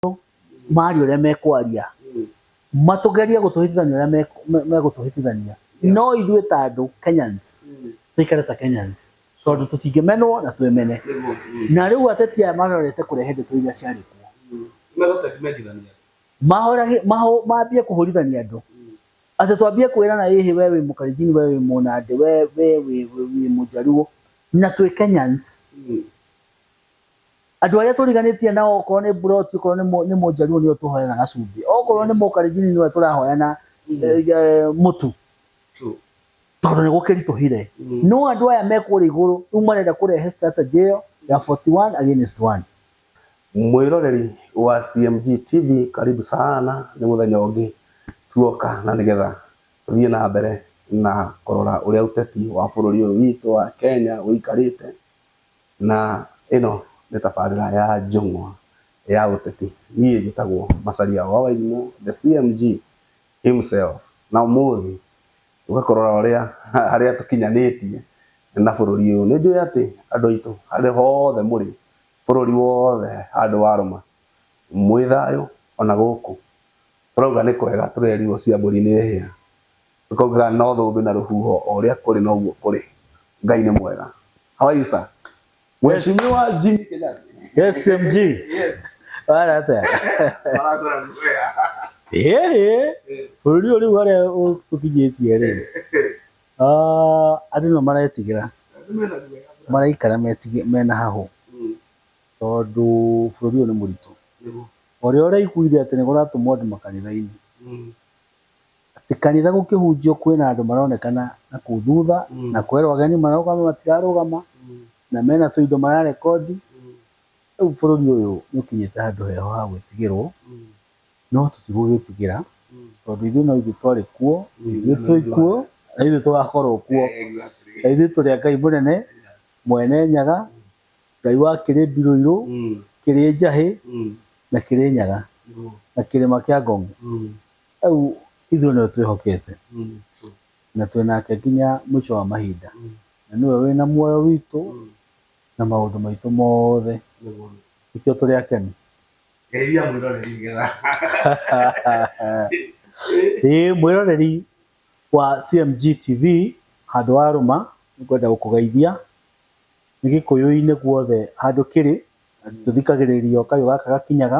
maitũ maria ũrĩa mekwaria matũgerie gũtũhĩtithania ũrĩa megũtũhĩtithania no ithuĩ ta andũ Kenyans tũikare ta Kenyans tondũ tũtingĩmenwo na twĩmene na rĩu ateti aya marorete kũrehe ndeto iria ciarĩ kuo mambie kũhũrithania andũ atĩ twambie kwĩrana ĩhĩ we wĩ mũkalenjin we wĩ mũnandĩ we wĩ mũjaluo na twĩ Kenyans. Andũ arĩa tũriganĩtie nao okorwo nĩ mburoti, okorwo nĩ mũ- nĩ mũjaruo nĩo tũhoyaga gacumbĩ. Okorwo nĩ mũkarinjini nĩwe tũrahoya na eh, eh, mũtu True. tondũ nĩ gũkĩritũhire. No andũ aya me kũrĩa igũrũ rĩu marenda kũrehe strategy ĩyo ya 41 against 1. Mwĩroreri wa CMG TV karibu sana nĩ mũthenya ũngĩ tuoka na nĩgetha tũthiĩ na mbere na kũrora ũrĩa ũteti wa bũrũri ũyũ witũ wa Kenya ũikarĩte. Na ĩno nĩ tabarĩra ya njũng'wa ya ũteti. Niĩ njĩtagwo Macharia wa Wairimũ, the CMG himself. Na ũmũthĩ tũka kũrora ũrĩa harĩa tũkinyanĩtie na bũrũri ũyũ. Nĩ njũĩ atĩ andũ aitũ harĩa hothe mũrĩ, bũrũri wothe handũ warũma, mwĩ thayũ ona gũkũ. Tũrauga nĩ kwega tũrerirwo cia mbũri nĩ hĩa. Tũkaugaga no thũmbĩ na rũhuho o ũrĩa kũrĩ noguo kũrĩ. Ngai nĩ mwega. How are you sir? Mheshimiwa Jimmy Kenyatta. Yes, CMG. Yes. Wala hata. Maragora kuya. Eh, bũrũri ũrĩ wale tũkinyĩtie rĩ. Ah, andũ nĩ maretigĩra. Maraikara metige mena hahũ. Mm. Tondũ bũrũri ũyũ nĩ mũritũ. Ũrĩa ũraiguire atĩ nĩ kũratũmwo andũ makanitha-inĩ. Mm. atĩ kanitha gũkĩhunjio kwĩna andũ maronekana na kũu thutha na kwerwo ageni marũgame matirarũgama na mena tũindo mararekondi. Rĩu bũrũri ũyũ nĩ ũkinyĩte handũ heho ha gwĩtigĩrwo no tũtigũgĩtigĩra tondũ ithuĩ no ithuĩ twarĩ kuo, no ithuĩ twĩ kuo na no ithuĩ tũgakorwo kuo. Na ithuĩ tũrĩ a Ngai mũnene Mwene Nyaga, Ngai wa kĩrĩ Mbiroirũ, kĩrĩ Njahĩ na kĩrĩ Nyaga na kĩrĩma kĩa Ngong. Rĩu ithuĩ nĩwe twĩhokete na twĩ nake nginya mũico wa mahinda, na nĩwe wĩ na muoyo witũ na maũndũ maitũ mothe, nĩkĩo tũrĩ akenu. Ĩĩ mwĩroreri wa CMG TV handũ wa rũma nĩngwenda gũkũgeithia, nĩ gĩkũyũ-inĩ guothe handũ kĩrĩ tũthikagĩrĩrio kayũ gaka gakinyaga.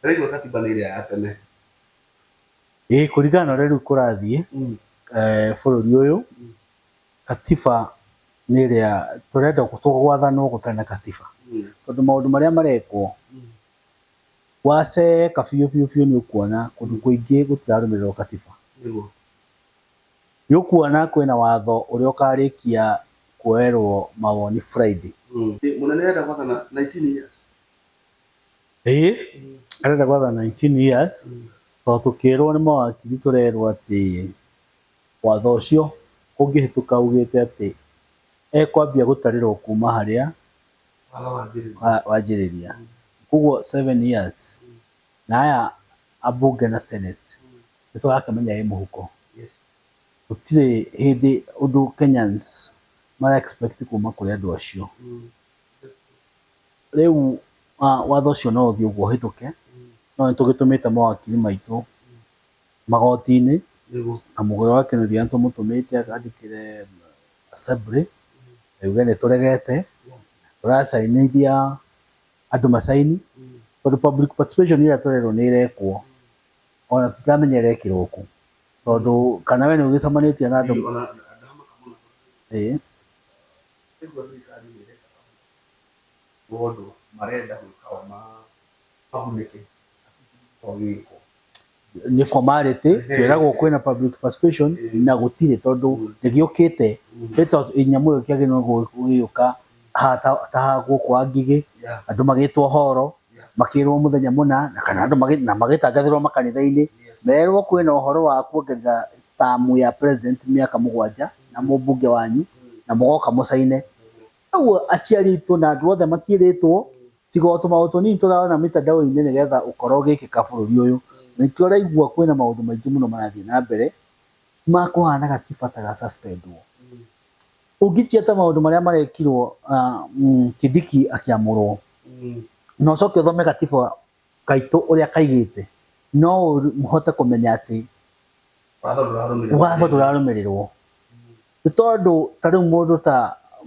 Ndĩraigua katiba nĩ ĩrĩa ya tene. Ĩĩ kũringana na ũrĩa rĩu kũrathiĩ bũrũri ũyũ, katiba nĩ ĩrĩa tũrenda gwathanwo gũtarĩ na katiba. Tondũ maũndũ marĩa marekwo, waceeka biũ biũ biũ nĩ ũkuona kũndũ kũingĩ gũtirarũmĩrĩrwo katiba. Nĩ ũkuona kwĩna watho ũrĩa ũkarĩkia kuoerwo mawoni Friday. Mũnene arenda gwathana nineteen years? Ĩĩ, arenda gwatha 19 years, tondũ tũkĩrwo nĩ mawakiri tũrerwo atĩ watho ũcio ũngĩhĩtũka ugĩte atĩ ekwambia gũtarĩrwo kuma harĩa wanjĩrĩria. Koguo seven years na aya ambunge na senate nĩ tũrakĩmenya ĩ mũhuko. Gũtirĩ hĩndĩ ũndũ Kenyans mara expect kuma kũrĩ andũ acio. Rĩu watho ũcio no ũthiĩ ũguo ũhĩtũke, no nĩ tũgĩtũmĩte mawakiri maitũ magoti-inĩ, na mũhũra wa kĩnuthia nĩ tũmũtũmĩte andĩkĩre Assembly auge nĩ tũregete, tũracainithia andũ macaini, tondũ public participation ĩrĩa tũrerwo nĩ ĩrekwo ona tũtiramenya ĩrekĩrwo kũ, tondũ kana we nĩ ũgĩcemanĩtie na andũ, ĩĩ. Tondũ marenda gwĩka o mahunĩke hatikĩrĩ gĩko gĩgĩkwo. Nĩ formality, tweragwo kwĩna public participation na gũtirĩ tondũ ndĩgĩũkĩte. Nyamũ ĩyo ĩkĩagĩrĩirwo gũgĩũka ta haha gũkũ ha Ngigĩ, andũ magĩtwo horo, makĩrwo mũthenya mũna na kana andũ na magĩtangathĩrwo makanitha-inĩ, merwo kwĩna ũhoro wa kuongerera term ya president mĩaka mũgwanja na mũmbunge wanyu na mũgoka mũcaine. Koguo aciari aitũ na andũ othe matiĩrĩtwo tiga o tũmaũndũ tũnini tũrarona mĩtandao-inĩ nĩgetha ũkora ũgĩkĩka bũrũri ũyũ. Na nĩkĩo ũraigua kwĩna maũndũ maingĩ mũno marathiĩ na mbere ma kũhana gatiba ta ga suspend wo. Ũngĩtia ta maũndũ marĩa marekirwo Kindiki akĩamũrwo, na ũcoke ũthome gatiba gaitũ ũrĩa kaigĩte, no ũhote kũmenya atĩ watho ndũrarũmĩrĩrwo. Nĩ tondũ ta rĩu mũndũ ta,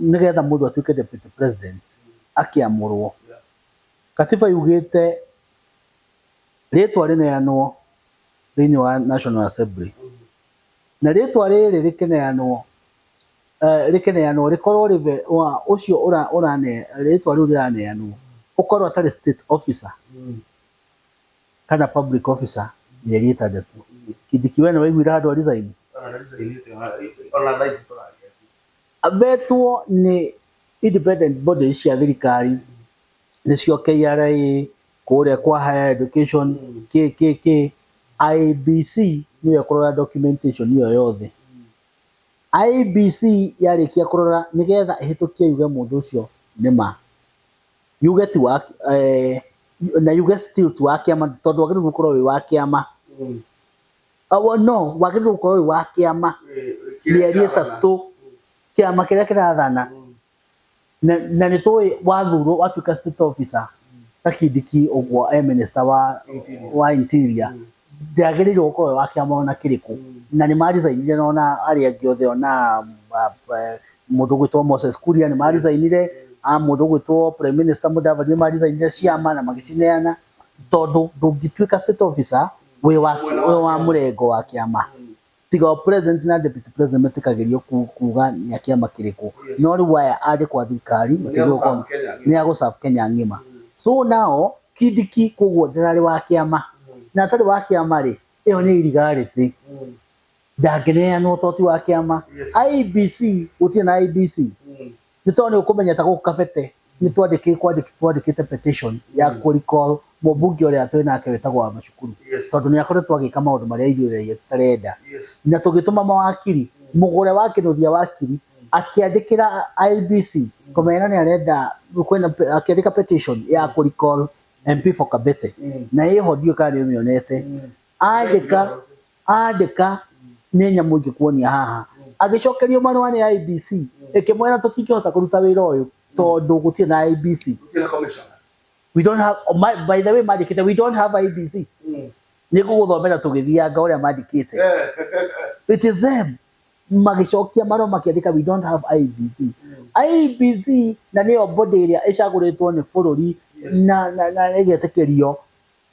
nĩ getha mũndũ atuĩke Deputy President akĩamũrwo, Katiba yugĩte rĩtwa rĩneanwo thĩinĩ wa National Assembly, na rĩtwa rĩrĩ rĩkĩneanwo, rĩkĩneanwo rĩkorwo rĩ we ũcio rĩtwa rĩu rĩraneanwo ũkorwo atarĩ state officer kana public officer mĩeri ĩtandatũ. Kindiki we nĩwaiguire handũ a resign? Avetwo nĩ independent body cia thirikari nĩcio KRA, kũrĩa kwa Higher Education, kĩĩ kĩĩ kĩĩ, IEBC nĩyo ĩkũrora documentation ĩyo yothe. IEBC yarĩkia kũrora nĩgetha ĩhĩtũkie yuge mũndũ ũcio nĩ ma, yuge ti wa, na yuge still ti wa kĩama tondũ wagĩrĩirwo nĩ gũkorwo wĩ wa kĩama, no wagĩrĩirwo gũkorwo wĩ wa kĩama mĩeri ĩtatũ, kĩama kĩrĩa kĩrathana. Na, na nĩ tũĩ wathurwo watuĩka state officer ta kindiki ũguo e minister wa, Interior. wa interior mm. ndagĩrĩirwo gũkorwo e wa kĩama ona kĩrĩkũ mm. na nĩ marisainire na ona arĩa angĩ othe ona uh, uh, mũndũ gwĩtwo Moses Kuria nĩ marisainire mm. a mũndũ gwĩtwo prime minister Mudavadi nĩ marisainire ciama na magĩcineana tondũ ndũngĩtuĩka state officer wĩ wa, wĩ wa mũrengo wa kĩama mm. Tiga o president na deputy president metĩkagĩrio ku- kuga nĩ a kĩama kĩrĩkũ no rĩu aya arĩ kwa thirikari makĩria gũkorwo- nĩ a gũserve Kenya ng'ima so now Kindiki koguo ndararĩ wa kĩama na atarĩ wa kĩama rĩ ĩyo nĩ irigarĩtĩ ndangĩneanwo to ti wa kĩama IEBC gũtirĩ na IEBC nĩ tondũ nĩ ũkũmenya ta gũkũ kabete nĩ twandĩkĩte kwandĩkĩte twandĩkĩte petition ya kũ recall mũmbunge ũrĩa twĩ nake wĩtagwo wa macukuru Yes. tondũ nĩ akoretwo agĩka maũndũ marĩa ithuĩ raia tũtarenda Yes. na tũgĩtũma mawakiri mũgũre wa kĩnũthia wakiri akĩandĩkĩra IBC kũmena nĩ arenda kwĩna pe- akĩandĩka petition ya kũ recall MP for Kabete na ĩho ndiũĩ kana nĩ ũmĩonete andĩka Andĩka, Nĩ nyamũ ingĩkuonia haha. Agĩcokerio marũa nĩ IEBC ĩkĩmwĩra tũtingĩhota kũruta wĩra ũyũ tondũ gũtirĩ na IEBC. Gũtirĩ na commissioners. We don't have, ma, by the way mandĩkĩte we don't have IEBC. Nĩngũgũthomera tũgĩthianga ũrĩa mandĩkĩte. It is them. Magĩcokia marũa makĩandĩka we don't have IEBC. IEBC na nĩyo body ĩrĩa ĩcagũrĩtwo nĩ bũrũri na, na, na ĩgetĩkĩrio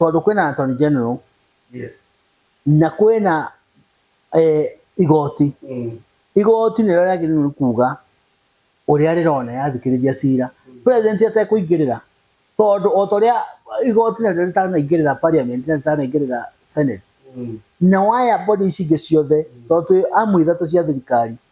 tondå kwä na attorney general Yes. na kwä na eh, igoti Mm. igoti nä rä o rĩagĩrĩirwo nĩ kuga ũrĩa rĩrona yathikĩrĩria cira president atekũingĩrĩra tondũ o ta ũrĩa igoti na rĩo rĩtanaingĩrĩra parliament na rĩtanaingĩrĩra senate Mm. na waya body ici ingĩ ciothe tondũ twĩ amwe ithatũ cia thirikari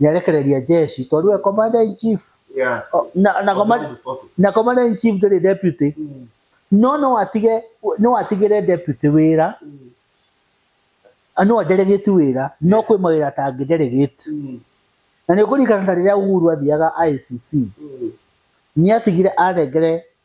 nĩarekereria jeshi tondũ we commander in chief Yes. O, na, na, command, Armed forces. na commander in chief ndĩrĩ deputy Mm. no no atige no atigĩre deputy wĩra Mm. a, no delegate wĩra no kwĩ mawĩra atangĩ delegate Mm. na nĩ ũkũririkana ta rĩrĩa Uhuru athiaga ICC Mm. nĩ atigire anengere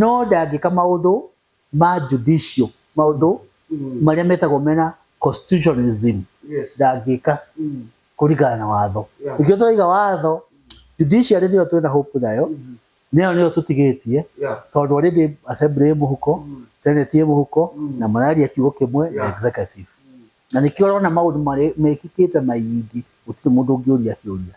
No ndangĩka maũndũ ma judicial, maũndũ marĩa metagwo mena constitutionalism, ndangĩka kũringana na watho. Nĩkĩo tũraiga watho, judiciary nĩyo twĩna hope nayo, nĩyo nĩyo tũtigĩtie, tondũ already assembly ĩ mũhuko, senate ĩ mũhuko, na mararia kiugo kĩmwe na executive. Na nĩkĩo ũrona maũndũ mekĩkĩte maingĩ gũtirĩ mũndũ ũngĩũria kĩũria.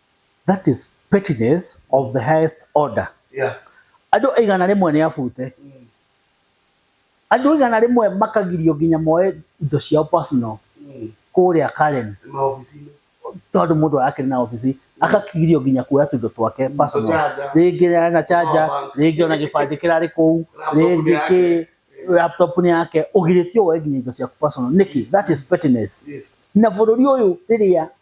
That is pettiness of the highest order. Yeah. Andũ aigana rĩmwe nĩ abute. Mm. Andũ aigana rĩmwe makagirio nginya moe indo ciao personal mm. kũrĩa Karen. Maobici-inĩ. Tondũ mũndũ arakĩrĩ na obici mm. akakigirio nginya kuoya tuindo twake mm. personal. Rĩngĩ na charger, rĩngĩ ona gĩbandĩ kĩrarĩ kũu, rĩngĩ kĩ laptop ni yake ugirĩtio woe nginya indo ciaku personal nĩkĩ that is pettiness yes. na bũrũri ũyũ rĩrĩa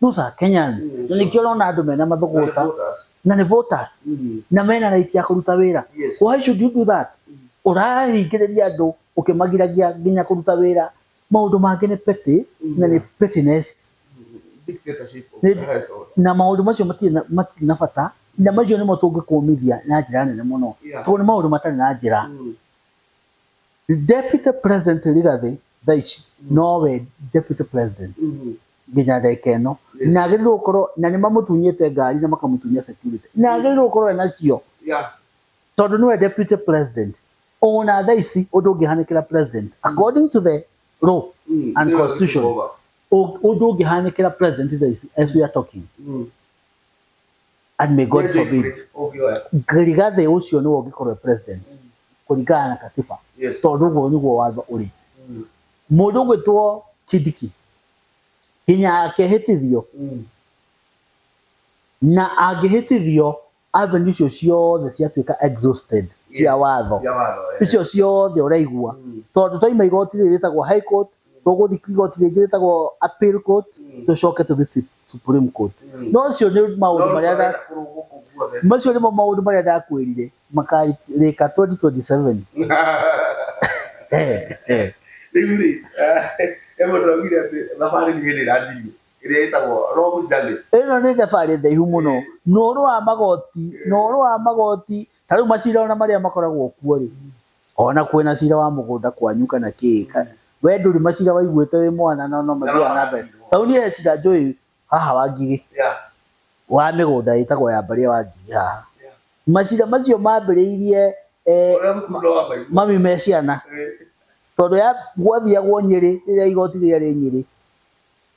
those are Kenyans Mm, na sure. nĩkĩo ũrona andũ mena mathũgũta Voters. na nĩ voters Mm. na mena right ya kũruta wĩra Yes. why should you do that ũrahingĩrĩria andũ ũkĩmagiragia nginya kũruta wĩra maũndũ mangĩ nĩ petty na nĩ pettiness Dictatorship of Nĩ- the highest order. na maũndũ macio matirĩ na- matirĩ na bata na macio nĩmo tũngĩkũmithia na njĩra nene mũno Yeah. tondũ nĩ maũndũ matarĩ na njĩra Mm. Deputy President Rigathi thaici nowe Deputy President mm-hmm. nginya ndagika ĩno na agĩrĩirwo gũkorwo na nĩ mamũtunyĩte ngari na makamũtunya security na mm-hmm. agĩrĩirwo gũkorwo ena cio tondũ nĩwe Deputy President ona thaa ici ũndũ ũngĩhanĩkĩra President mm-hmm. according to the law mm, and constitution ũndũ ũngĩhanĩkĩra President thaa ici as we are talking mm. and may God forbid rigathĩ ũcio nĩwe ũngĩkorwo president kũringana na katiba tondũ ũguo nĩguo watho ũrĩ mm. mũndũ ũgwĩtwo kidiki hinya yake hĩtithio mm. na angĩhĩtithio avenue icio ciothe ciatuĩka exhausted cia watho icio ciothe ũraigua mm. tondũ twaima igoti rĩrĩ rĩtagwo high court tũgũthiĩ igoti rĩngĩ rĩtagwo appeal court tũcoke tũthiĩ su- supreme court no ũcio nĩ maũndũ marĩa nda- macio nĩmo maũndũ marĩa ndakwĩrire makarĩka 2027 Eh, eh. rĩu rĩ emwe ndĩraugire atĩ thabarĩ nĩ hĩndĩ ĩranjirio ĩrĩa ĩtagwo long journey ĩno nĩ thabarĩ ndaihu mũno na ũhoro wa magoti na ũhoro wa magoti ta rĩu macira ona marĩa makoragwo kuo rĩ Ona kwĩna cira wa mũgũnda kwanyu kana kĩĩ ka we ndũrĩ macira waiguĩte wĩ mwana na no mathiaga na mbere. Ta rĩu niĩ he cira njũĩ haha wa Ngigĩ, wa mĩgũnda ĩtagwo ya Mbaria wa Ngigĩ haha. Macira macio mambĩrĩirie mami me ciana, tondũ ya gwathiagwo Nyĩrĩ rĩrĩa igoti rĩrĩa rĩ Nyĩrĩ,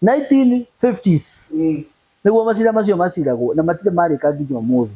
1950s nĩguo macira macio maciragwo na matirĩ marĩka nginya ũmũthĩ.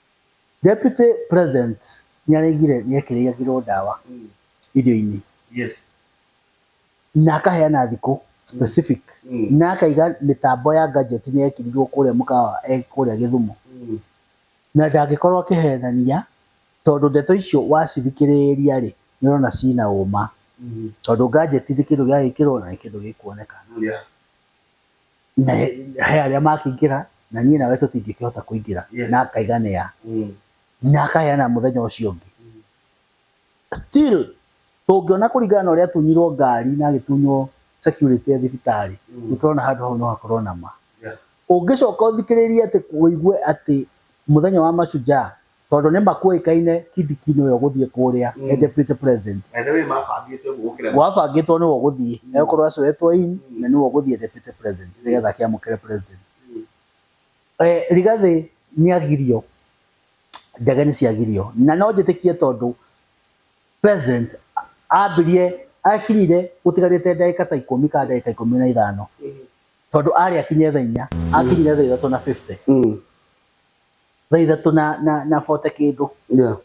Deputy president nĩarengire nĩekĩrĩagĩrwo ndawa irio-inĩ Yes. na akaheana thikũ specific Mm. na akaiga mĩtambo ya gadget nĩyekĩrirwo kũrĩa mũkawa e kũrĩa Gĩthumo Mm. na ndangĩkorwo akĩhenania tondũ ndeto icio wacithikĩrĩria rĩ nĩũrona ciĩna ũma Mm. tondũ gadget nĩ kĩndũ gĩagĩkĩrwo na nĩ kĩndũ gĩkuoneka. Yeah. na he arĩa makĩingĩra na niĩ nawe tũtingĩkĩhota kũingĩra yes. na akaiganĩa mm. na akaheana mũthenya ũcio ũngĩ mm. still tũngĩona kũringana na ũrĩa tunyirwo ngari na agĩtunywo security ya thibitarĩ mm. nĩtũrona handũ hau no hakorwo na ma yeah. ũngĩcoka ũthikĩrĩrie atĩ ũigue atĩ mũthenya wa mashujaa Tondũ nĩ makũĩkaine Kidikino ũyũ gũthiĩ kũrĩa e deputy president. Ene we mabangĩte ũguo gũkĩra. Wabangĩtwo nĩwe ũgũthiĩ. Egũkorwo acoetwo in na nĩwe ũgũthiĩ e deputy president nĩgetha akĩamũkĩre president. Rigathĩ nĩ agirio, ndege nĩ ciagirio. Na no njĩtĩkie tondũ president ambirie akinyire gũtigarĩte ndagĩka ta ikũmi kana ndagĩka ikũmi na ithano. Tondũ arĩ akinye thaa inya, akinyire thaa ithatũ na fifty. thaithatũ na, na, na bote kĩndũ yeah.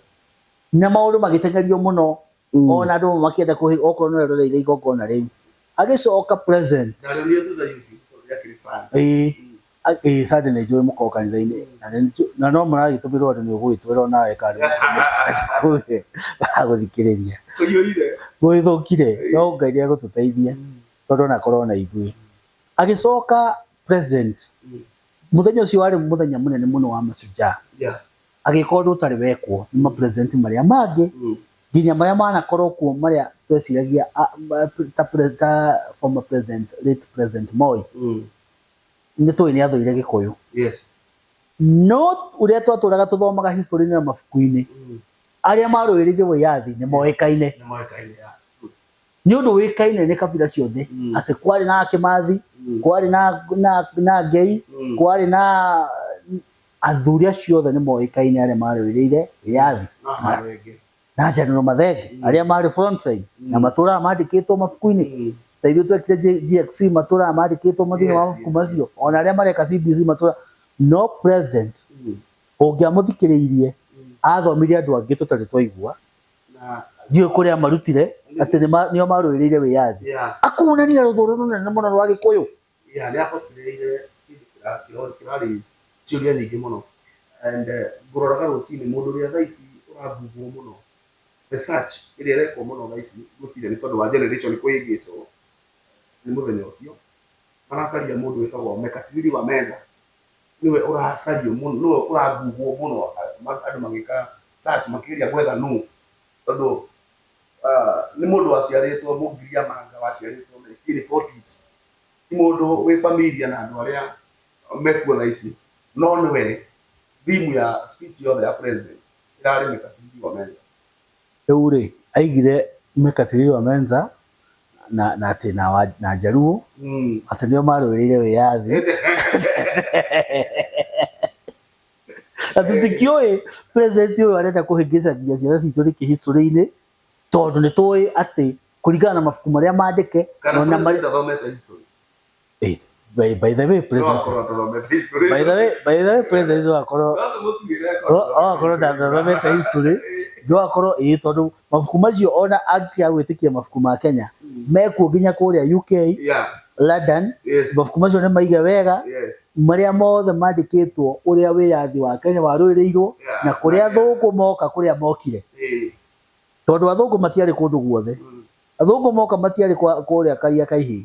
na maũndũ magĩtengerio mũno mm. ona andũ makĩenda kũhĩ okorwo no eroreire igongona rĩu agĩcoka present ĩĩ sande nĩ njũĩ mũkorwo kanitha-inĩ na no mũragĩtũmĩrwo andũ nĩ ũgũgĩtwĩra onawe kana agũthikĩrĩria gũgĩthũkire no ngai nĩ egũtũteithia tondũ onakorwo na ithuĩ agĩcoka president muthenya ucio wari muthenya munene muno wa mashujaa yeah. agĩkorwo ũndũ ũtarĩ wekwo nĩ mapresident marĩa mangĩ mm. nginya marĩa manakorwo kuo marĩa tweciragia ta former president late president Moi mm. nĩ tũĩ nĩ athũire gĩkũyũ yes. no ũrĩa twatũraga tũthomaga history-inĩ na mabuku-inĩ mm. arĩa marũĩrĩire wĩyathi nĩ moĩkaine Nĩ ũndũ ũĩkaine nĩ kabira ciothe atĩ kwarĩ na Akĩmathi, kwarĩ na, na, na Ngei, kwarĩ na athuri acio othe nĩ moĩkaine arĩa maarũĩrĩire wĩyathi na, na General Mathenge, arĩa maarĩ front side na matũũraga mandĩkĩtwo mabuku-inĩ. Ta ithuĩ twekire J- GXC matũũraga mandĩkĩtwo ma thĩinĩ wa mabuku macio, o na arĩa mareka CBC matũũraga. No President ũngĩamũthikĩrĩirie athomithia andũ angĩ tũtarĩ twaigua, Na ndiũĩ kũrĩa marutire atĩ nĩ ma- nĩo marũĩrĩire wĩyathi yeah, akuonania rũthũ rũrũ rũnene mũno rwa gĩkũyũ yeah, nĩ ahotireire kĩndũ kĩra- kĩra- kĩra raise ciũria nyingĩ mũno. And eh, ngũroraga rũcinĩ mũndũ ũrĩa thaa ici ũragugwo mũno, the search ĩrĩa ĩrekwo mũno thaa ici ngwĩciria nĩ tondũ wa generation kũhĩngĩcwo nĩ mũthenya ũcio, maracaria mũndũ wĩtagwo Mekatilili wa Meza. nĩwe ũracario mũno, nĩwe ũraguhwo mũno andũ magĩka search makĩgeria gwetha nũ, tondũ nĩ mũndũ waciarĩtwo Mũgiriamanga waciarĩtwo nineteen forties. Ti mũndũ wĩ familia na andũ arĩa mekuo thaa ici, no nĩwe theme ya speech yothe ya president ĩrarĩ mĩkatio igĩrĩ kwa meza. Rĩu-rĩ, aigire Mekatilili wa Menza na, na atĩ, na, wa, na Njaruo, atĩ nĩo marũĩrĩire wĩyathi. Na tũtikĩũĩ president ũyũ arenda kũhĩngĩcania ciana citũ nĩkĩ history-inĩ, tondũ nĩtũũĩ atĩ kũringana na mabuku marĩa mandĩke, na ona marĩa. Wait, by, by the way president Tũrakorwo tũthomete history. by the way by the way president wakorwo No tũmũtuĩre akorwo- akorwo ndathomete history ndwakorwo ĩĩ tondũ mabuku macio ona angĩtiga gwĩtĩkia mabuku ma Kenya mekuo nginya kũrĩa UK Yeah, London yes, mabuku macio nĩ maige wega yes. marĩa mothe mandĩkĩtwo ũrĩa wĩyathi wa Kenya warũĩrĩirwo Yeah. na kũrĩa athũngũ moka kũrĩa mokire Eh, tondũ athũngũ matiarĩ kũndũ guothe mm, athũngũ moka matiarĩ kwa- kũrĩa karia kaihĩ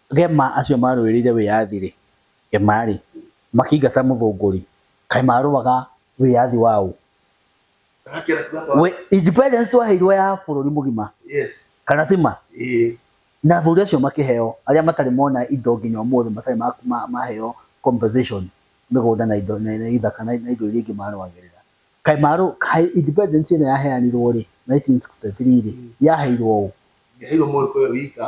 Gema acio marũĩrĩire wĩyathi-rĩ, Gema-rĩ, makĩingata mũthũngũri, kaĩ marũaga wĩyathi wa ũ? Independence twaheirwo ya bũrũri mũgima, kana ti ma? Na athuri acio makĩheo, arĩa matarĩ mona indo nginya ũmũthĩ matarĩ maheo compensation, mĩgũnda na indo na ithaka na indo iria ingĩ marũagĩrĩra. Kaĩ independence ĩno yaheanirwo-rĩ, nineteen sixty three-rĩ, yaheirwo ũ? Ndĩaheirwo Mũgĩkũyũ wika.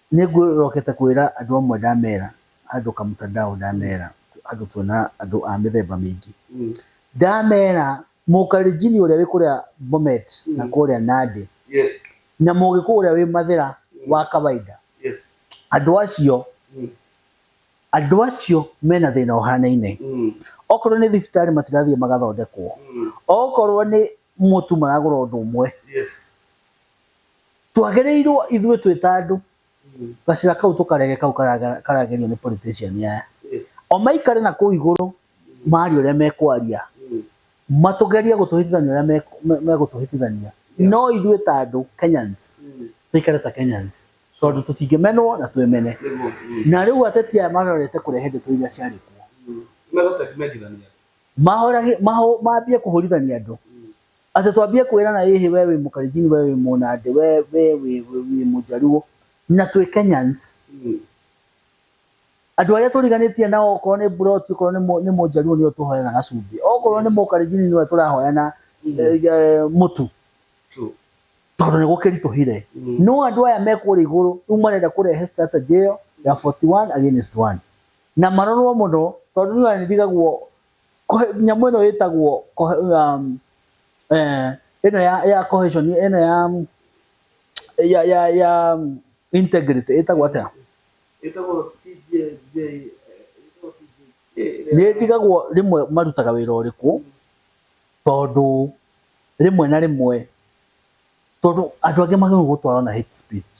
Nĩ ngũrokete kwĩra andũ amwe ndamera, andũ kamutandao ndamera, andũ tuona andũ a mĩthemba mĩingĩ, ndamera mũkalenjini ũrĩa wĩ kũrĩa Bomet na kũrĩa Nandi na mũgĩkũyũ ũrĩa wĩ mathĩra wa kawaida, andũ acio, andũ acio mena thĩna ũhanaine, okorwo nĩ thibitarĩ matirathiĩ magathondekwo, okorwo nĩ ũmwe tu maragũra ũndũ ũmwe Yes. twagĩrĩirwo ithuĩ twĩ ta andũ Mm. gacĩra kau tũkarege kau karaga- karagerio nĩ politician aya Yes. o maikare na kũu igũrũ maria ũrĩa mekwaria Mm. matũgerie gũtũhĩtithania ũrĩa me- me- megũtũhĩtithania no ithuĩ ta andũ kenyans Mm. tũikare ta kenyans tondũ tũtingĩmenwo na twĩmene Nĩguo. Mm. na rĩu ateti aya marorete kũrehe ndeto iria ciarĩ kuo Mega ũtangĩmenyithania. Mahorage, maho, mambie kũhũrithania andũ. Atĩ twambie kwĩrana ĩhĩ we wĩ mũkalenjini we wĩ mũnandĩ we we wĩ wĩ wĩ mũjaluo na twĩ Kenyans. Andũ arĩa tũriganĩtie nao okorwo nĩ mburoti okorwo nĩ mũ nĩ mũjaluo nĩwe tũhoyaga gacumbĩ. Okorwo nĩ mũkalenjini nĩwe tũrahoya na mũtu. Tondũ nĩgũkĩritũhire. No andũ aya me kũrĩa igũrũ rĩu marenda kũrehe strategy ĩyo ya 41 against 1. Na marorwo mũno tondũ nĩ ũrona nĩ ndigagwo nyamũ ĩno ĩtagwo ĩno ya cohesion ĩno ya integrity ĩtagwo atĩa? Nĩ ndigagwo rĩmwe marutaga wĩra ũrĩkũ tondũ rĩmwe na rĩmwe tondũ andũ angĩ magĩrĩirwo gũtwarwo na hate speech.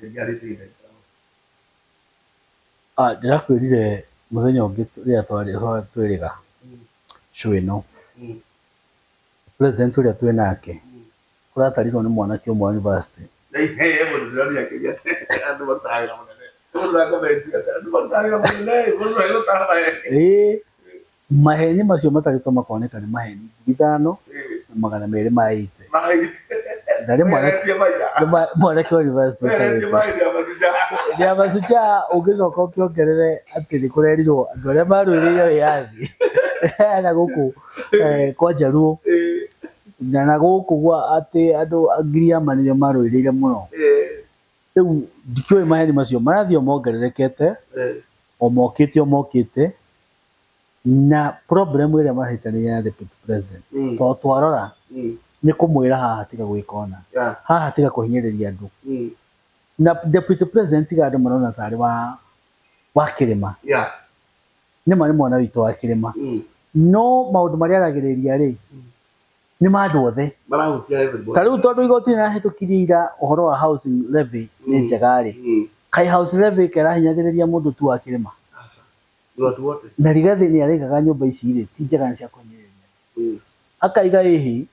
Rĩngĩ arĩ thĩna ingĩkorwo. Ah, ndĩrakwĩrire mũthenya ũngĩ rĩrĩa twarĩ twĩrĩga show ĩno. President ũrĩa twĩ nake, kũratarirwo nĩ mwanake ũmwe wa university. Ĩĩ. Maheni macio matarĩtwo makoneka nĩ maheni ngiri ithano na magana merĩ ma ĩite na nĩ mwanake wa yunivasĩtĩ ũtarĩte. Nĩ amashujaa ũngĩcoka ũkĩongerere atĩ nĩ kũrerirwo andũ arĩa marũĩrĩire wĩyathi na gũkũ kwa Njaruo na na gũkũ gwa atĩ andũ a Giriama nĩo marũĩrĩire mũno. Rĩu ndikĩũĩ maheni macio marathiĩ o mongererekete o mokĩte o mokĩte. na problem ĩrĩa marahĩta nĩ ya deputy president mm. tondũ twarora mm. nĩ kũmwĩra haha tiga gwĩka ona yeah. haha tiga kũhinyĩrĩria andũ mm. na deputy president tiga andũ marona tarĩ wa wa kĩrĩma yeah. nĩ ma nĩ mwana witũ wa kĩrĩma mm. no maũndũ marĩa aragĩrĩria rĩ mm. nĩ ma andũ othe ta rĩu tondũ igoti nĩrahĩtũkirie ira ũhoro wa housing levy nĩ mm. njega rĩ mm. kai house levy kerahinyagĩrĩria mũndũ tu wa kĩrĩma Nĩ watu wote. Na Rigathi nĩ araigaga nyũmba ici rĩ, ti njega nĩ cia kũhinyĩrĩria. Akaiga ĩhĩ,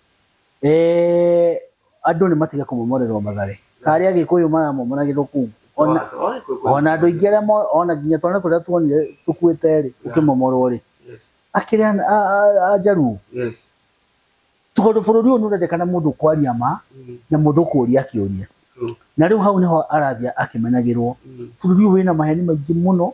andũ nĩ matige kũmomorerwo mathare. Ta arĩa Agĩkũyũ maramomoragĩrwo kũu. Ona andũ aingĩ arĩa ona nginya twana tũrĩa tuonire tũkuĩte rĩ, tũkĩmomorwo rĩ. Akĩrĩ a Njaruo. Tondũ bũrũri ũyũ nĩ ũrendekana mũndũ kwaria ma, na mũndũ ũkũria akĩũria. Na rĩu hau nĩho arathiĩ akĩmenyagĩrwo. Bũrũri ũyũ wĩna maheni maingĩ mũno,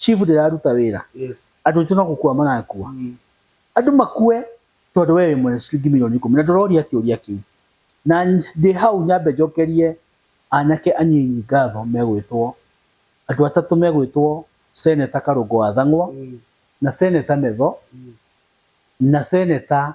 Chief ndĩraruta wĩra. Yes. Andũ aitũ no gũkua marakua. Mm. Andũ makue tondũ we wĩ mwene ciringi milioni ikũmi na ndũroria kĩũria kĩu. Na ndĩ hau nyambe njokerie anake anyinyi ngatho megwĩtwo andũ atatũ megwĩtwo Seneta Karũngũ wa Thang'wa, mm. na Seneta Metho, mm. na Seneta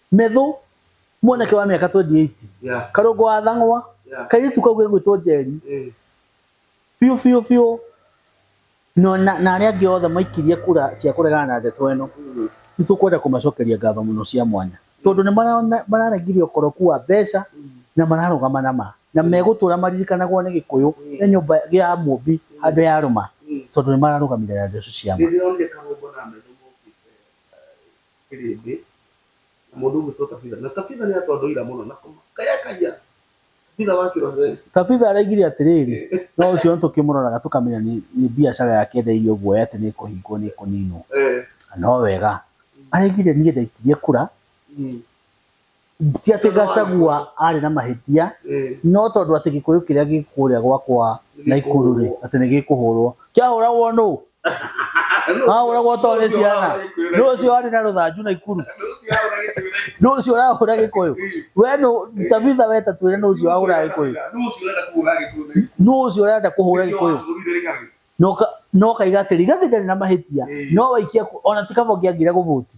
Methũ, mwanake wa mĩaka 28, Yeah. karũngo wa thang'wa, Yeah. kairĩtu kau gegwĩtwo Njeri, Eh. biũ biũ biũ, no na na arĩa angĩ othe maikirie kura cia kũregana na ndeto ĩno, Mm. nĩ tũkwenda kũmacokeria ngatho mũno cia mwanya tondũ nĩ marona- mararegire ũkoroku wa mbeca na mararũgama na ma na megũtũra maririkanagwo nĩ gĩkũyũ na nyũmba ya mũmbi handũ ya rũma Mm. tondũ nĩ mararũgamire na ndeto cia ma Nĩndĩronire karũngo na methũ mokĩte, eh, kĩrĩndĩ na mũndũ ũgwĩtwo kabitha na kabitha nĩ atondũ ira mũno na kaya kaya kabitha wa kĩroceri kabitha araigire atĩrĩrĩ no ũcio nĩ tũkĩmũroraga tũkamenya nĩ biacara yake etheirio guoya atĩ nĩ kũhingwo nĩ kũninwo no wega araigire niĩ ndaikirie kura mm. ti atĩ Gachagua arĩ na mahĩtia no tondũ atĩ gĩkũyũ kĩrĩa gĩ kũrĩa gwakwa Naikuru rĩ atĩ nĩ gĩkũhũrwo kĩahũragwo nũ ahũragwo to nĩ ciana nũ ũcio arĩ na rũthanju Naikuru nũ ũcio ũrahũra gĩkũyũ we nũ Tabitha we ta twĩre nũ ũcio ahũraga gĩkũyũ nũ ũcio ũrenda kũhũra gĩkũyũ no ka- no kaiga atĩrĩ gathĩ ndarĩ na mahĩtia no waikia kũ- ona ti kaba ũngĩagire gũbũti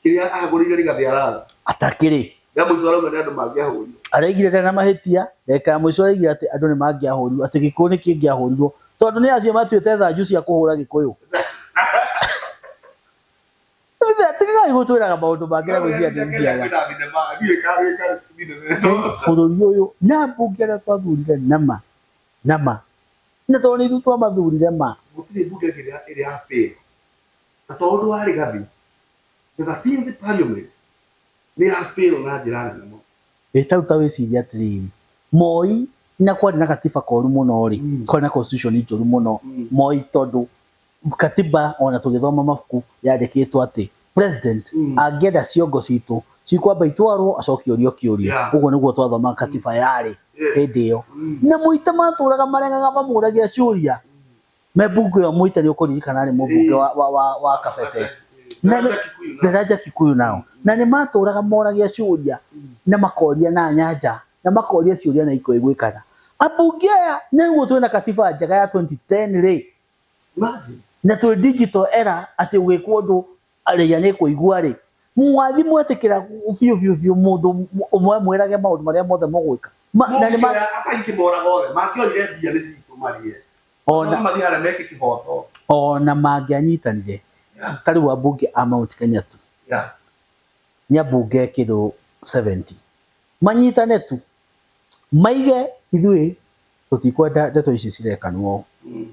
kĩrĩa agũrĩire rĩgathĩ araga atakĩrĩ rĩa mũico arauga nĩ andũ mangĩahũrirwo araigire ndarĩ na mahĩtia ndagĩka ya mũico araigire atĩ andũ nĩ mangĩahũrirwo atĩ gĩkũyũ nĩ kĩngĩahũrirwo tondũ nĩ acio matuĩte thanju cia kũhũra gĩkũyũ Ithe, tigagai gũtwĩraga maũndũ mangĩ na gwĩciria atĩ njiaga kwĩna thinema ndiũĩ kana nĩ karĩ thinema ĩno bũrũri ũyũ na mbunge arĩa twathurire nama nama na tondũ nĩ ithuĩ twamathurire ma gũtirĩ mbunge ĩngĩ ĩrĩ ya fail Na tondũ warĩ gathĩ, the thirteenth Parliament nĩ ya fail na njĩra nene mũno. Ĩ ta rĩu ta wĩcirie atĩrĩrĩ, Moi na kwarĩ na gatiba koru mũno-rĩ, kwarĩ na constitution njũru mũno, Moi tondũ gatiba o na tũgĩthoma mabuku yandĩkĩtwo atĩ president angĩenda ciongo citũ cikwamba itwarwo acoke ũrio kĩũria. Ũguo nĩguo twathomaga katiba yarĩ hĩndĩ ĩyo. Na Moi ta matũraga marengaga mamũragĩra ciũria. Mebungu ĩyo mũite nĩ ũkũririkana arĩ mũbunge wa, wa, wa, wa Kabete. Na nĩ- The Raja Kikuyu nao. Na nĩ matũraga moragia ciũria na makoria na nyanja na makoria ciũria na ikoiguĩkana. Ambunge aya nĩ ũguo twĩna katiba njega ya 2010 rĩ, na twĩ digital era atĩ ũgĩkwo ũndũ arĩia nĩ kũigua-rĩ, mũgathiĩ mwetĩkĩra biũ biũ biũ mũndũ ũmwe amwĩrage maũndũ marĩa mothe mũgwĩka? Ma- na nĩ ma- Mũngĩoya akai kĩmoraga othe, mangĩoire mbia nĩ citũ marĩe. Ona- Macoke mathiĩ harĩa meke kĩhoto. ona mangĩanyitanire Yeah. ta rĩu ambunge a Mount Kenya tu Yeah. nĩ ambunge kĩndũ 70 manyitane tu maige ithuĩ tũtikwenda ndeto ici cirekanwo Mm.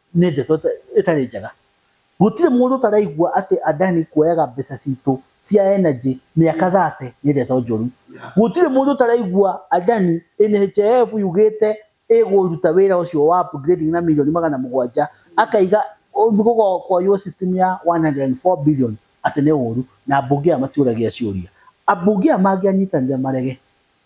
Nĩ ndeto ĩtarĩ njega. Gũtirĩ mũndũ ũtaraigua atĩ Adani kuoyaga mbeca citũ cia energy mĩaka 30 nĩ ndeto njũru. Gũtirĩ mũndũ ũtaraigua Adani NHIF yugĩte ĩgũruta wĩra ũcio wa upgrading na mirioni magana mũgwanja akaiga gũkoywo system ya 104 billion atĩ nĩ ũru na ambunge aya matiũragia ciũria. Ambunge aya mangĩanyitanire marege.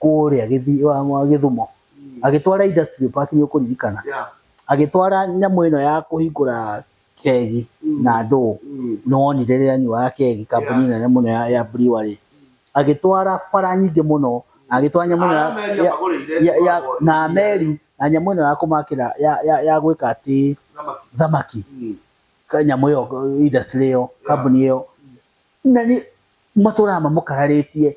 kũrĩa Gĩthi- wa- wa Gĩthumo, agĩtwara industrial park nĩ ũkũririkana, Yeah. agĩtwara nyamũ ĩno ya kũhingũra kegi na ndũũ, Mm. nĩ wonire rĩrĩa anyuaga kegi, kambuni nene mũno ya ya brewery, agĩtwara bara nyingĩ mũno, na agĩtwara nyamũ ĩno ya- Meri ya- amagũrĩire ya- ya- ĩkoragwo na ĩrĩ- meri na nyamũ ĩno ya kũmakĩra ya- ya- ya gwĩka atĩ Thamaki. thamaki Mm. ka- nyamũ ĩyo industry ĩyo kambuni ĩyo na nĩ matũraga mamũkararĩtie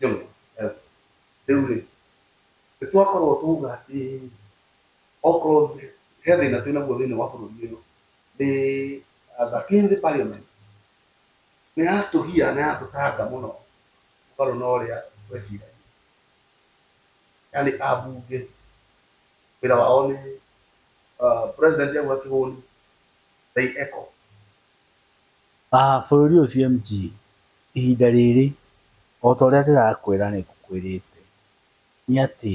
Jũma arabu. Rĩu-rĩ, nĩtwakorwo twauga atĩ okorwo he thĩna twĩ naguo thĩiniĩ wa bũrũri ũyũ, nĩ thirteenth parliament nĩyatũgia na yatũtanga mũno mũgarũ na ũrĩa tweciragia. Yaani ambunge wĩra wao nĩ president auga kĩhũni they echo. A bũrũri ũyũ CMG, ihinda rĩrĩ, o ta ũrĩa ndĩrakwĩra nĩ ngũkwĩrĩte, nĩ atĩ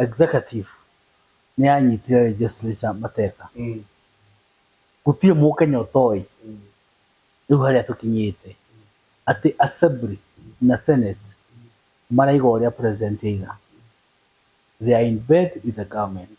Executive nĩ yanyitire Legislature mateka. Gũtirĩ Mũkenya ũtoĩ rĩu harĩa tũkinyĩte, atĩ Assembly na Senate maraiga ũrĩa President aiga. They are in bed with the government.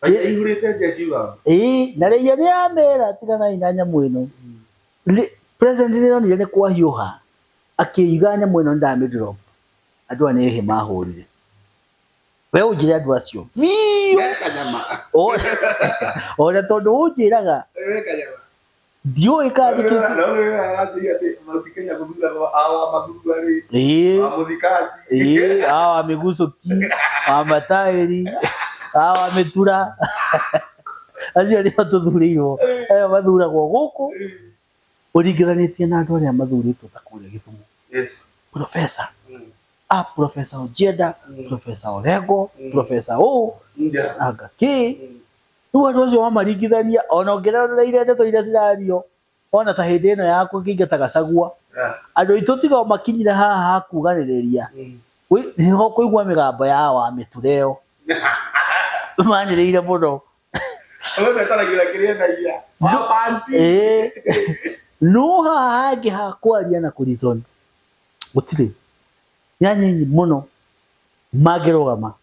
Raiya ihurite nje akiuga. Ii, na Raiya ni amera tiganai na nyamu ino. President ni onire ni kwahiuha akiuga nyamu ino ndami drop. Andu aya ni ihi mahurire. We unjire andu acio biu. Wee kanyama. Oria tondu unjiraga. Wee kanyama. ndiũĩ kana nĩ kĩĩ kĩ- Nawe wewe aratĩria atĩ Mount Kenya gũthuragwo awa mathurwa rĩ, Ĩĩ. wa mũthikaji. Ĩĩ, hawa wa mĩgucũki wa mataĩri hawa wa mĩtura acio nĩo tũthurĩirwo ayo mathuragwo gũkũ ũringithanĩtie na andũ arĩa mathurĩtwo ta kũrĩa gĩthumo Yes. profesa Mm. a profesa ũnjenda profesa orengo profesa ũ Nja. anga kĩ Mm. Rĩu andũ acio wamaringithania, ona ũngĩrorereire ndeto iria cirario, wona ta hĩndĩ ĩno ya kũingata Gachagua, andũ aitũ tiga o makinyire haha ha kuganĩrĩria, nĩho ũkũigua mĩgambo ya wa mĩtura ĩyo, manĩrĩire mũno. No haha hangĩ ha kwaria na kũ reason, gũtirĩ. Nĩ anini mũno mangĩrũgama.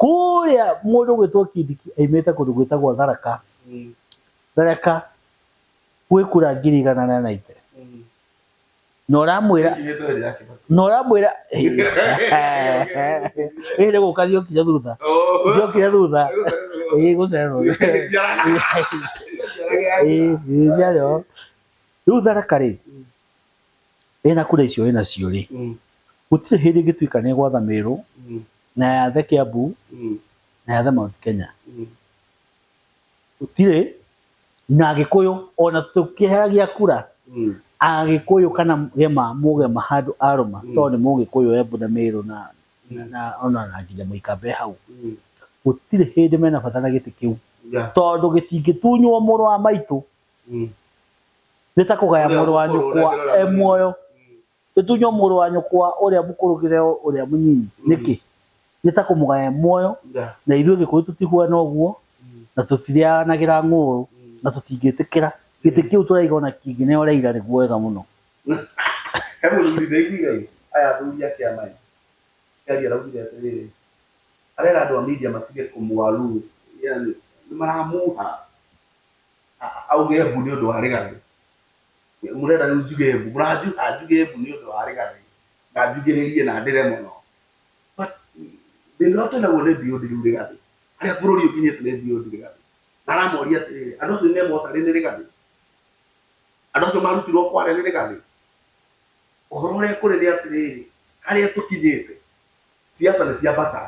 Kũrĩa mũndũ ũgwĩtwo Kindiki aimĩte kũndũ gwĩtagwo Tharaka, Tharaka gwĩ kura ngiri igana rĩa naite. Na ũramwĩra, na ũramwĩra, ĩĩ nĩ gũka ciokire thutha, ciokire thutha, ĩĩ gũcererwo. Ĩĩ ĩĩ ciarĩ ho. Rĩu Tharaka rĩ, Ĩ na kura icio wĩnacio rĩ, gũtirĩ hĩndĩ ĩngĩtuĩka nĩ ĩgwatha Merũ, na yathe Kĩambu, na yathe Mount Kenya? Gũtirĩ. Na Agĩkũyũ o na tũkĩheagia kura Agĩkũyũ kana Gema, Mũgema handũ a rũma tondũ nĩ Mũgĩkũyũ Embu na Merũ na o na nginya Mũika be hau, gũtirĩ hĩndĩ mena bata na gĩtĩ kĩu tondũ gĩtingĩtunywo mũrũ wa maitũ nĩ ta kũgaya mũrũ wa nyũkwa e muoyo, gĩtunywo mũrũ wa nyũkwa ũrĩa mũkũrũ kĩheo ũrĩa mũnyinyi. Nĩkĩ? Nĩ ta kũmũgaya e muoyo, na ithuĩ Gĩkũyũ tũtihuana ũguo, na tũtirĩanagĩra ng'ũũrũ, na tũtingĩtĩkĩra. Gĩtĩ kĩu tũraiga o na kĩngĩneeo ũrĩa ira nĩguo wega mũno. He mũthuri ndaiguire-ĩ, aya athuri ake a Maya akĩaria araugire atĩrĩrĩ, arera andũ a Media matige kũmũaluo, yaani nĩmaramuha. auge mbu nĩ ũndũ wa rĩganĩ mũrenda rĩu njuge mbu mũranjuga njuge mbu nĩ ũndũ wa rĩganĩ na njugĩrĩrie na ndĩre mũno but thĩna ũrĩa twĩ naguo nĩ beyond rĩu rĩganĩ harĩa bũrũri ũkinyĩte nĩ beyond rĩganĩ na aramoria atĩrĩrĩ andũ acio me mocarĩ nĩ rĩganĩ andũ acio marutirwo kware nĩ rĩganĩ ũhoro ũrĩa kũrĩ nĩ atĩrĩrĩ harĩa tũkinyĩte ciaca nĩ ciambata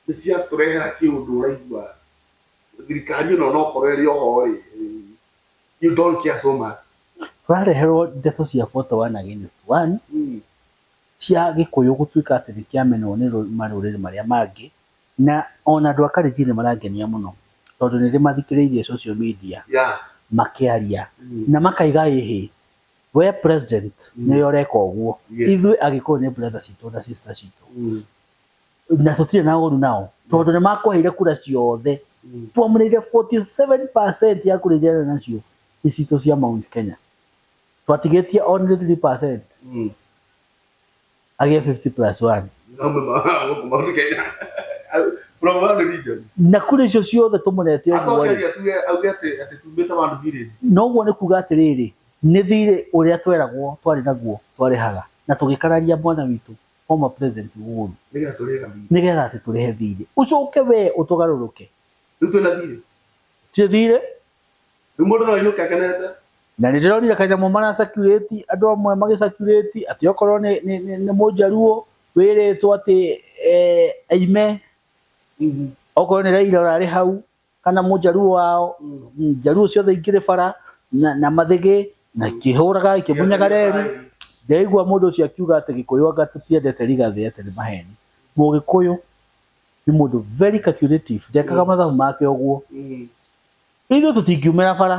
nĩ ciatũrehera kĩũndũ ũraigua thirikari ĩno nokorwo ĩrĩ oho rĩ you don't care so much tũrareherwo ndeto cia photo one against one mm. cia gĩkũyũ gũtuĩka atĩ nĩ kĩamenwo nĩ marũrĩrĩ marĩa mangĩ na ona andũ a Kalenjin nĩ marangenia mũno tondũ nĩ ndĩmathikĩrĩirie social media yeah. makĩaria mm. na makaiga ĩhĩ we president mm. nĩwe ũreka ũguo yes. ithuĩ agĩkũyũ nĩ brother citũ na sister citũ mm. na tũtirĩ na ũru nao tondũ nĩ makũheire kura ciothe mm. twamũrĩire 47% ya kura iria nacio nĩ citũ cia Mount Kenya twatigĩtie only 3% mm. agĩe 50 plus 1 na kura icio ciothe tũmũrete noguo nĩ kuga atĩrĩrĩ nĩ thirĩ ũrĩa tweragwo twarĩ naguo twarĩhaga na tũgĩkararia mwana witũ former president ũũru Nĩgetha tũrĩega thiirĩ. nĩgetha atĩ tũrĩhe thiirĩ. Ũcoke wee ũtũgarũrũke. Rĩu twĩna thiirĩ? Tũtirĩ thiirĩ. Rĩu mũndũ no ainũke akenete? Na nĩ ndĩronire kanyamũ mara circulate, andũ amwe magĩ circulate, atĩ okorwo nĩ nĩ nĩ nĩ Mũjaluo wĩrĩtwo atĩ eeh aime. Okorwo nĩ Raila ũrarĩ hau. kana mũjaruo wao njaruo ciothe ingĩrĩ bara na, na mathĩgĩ na ikĩhũraga ikĩmunyaga reri ndeigua mũndũ ũcio akiuga atĩ gĩkũyũ anga tũtiendete rigathĩ atĩ nĩ maheni mũgĩkũyũ nĩ mũndũ very calculative ndekaga mathabu make ũguo ithuĩ tũtingiumĩra bara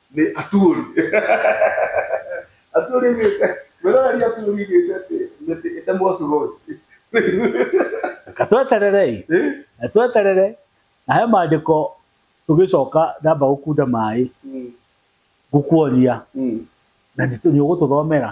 nĩ aturi aturi mĩtĩ mwĩroreri aturi mĩtĩ atĩ mĩtĩ ĩtemwo cuguri Reka twetererei na tweterere na he maandĩko tũgĩcoka ndamba gũkunda maĩ ngũkuonia na nĩ ũgũtũthomera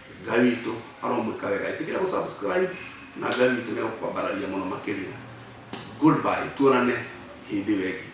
Ngai witũ aromwĩka wega ĩtĩkĩra gũ subscribe na Ngai witũ nĩegũkwambararia mũno makĩria goodbye tuonane hĩndĩ ĩyo ĩngĩ.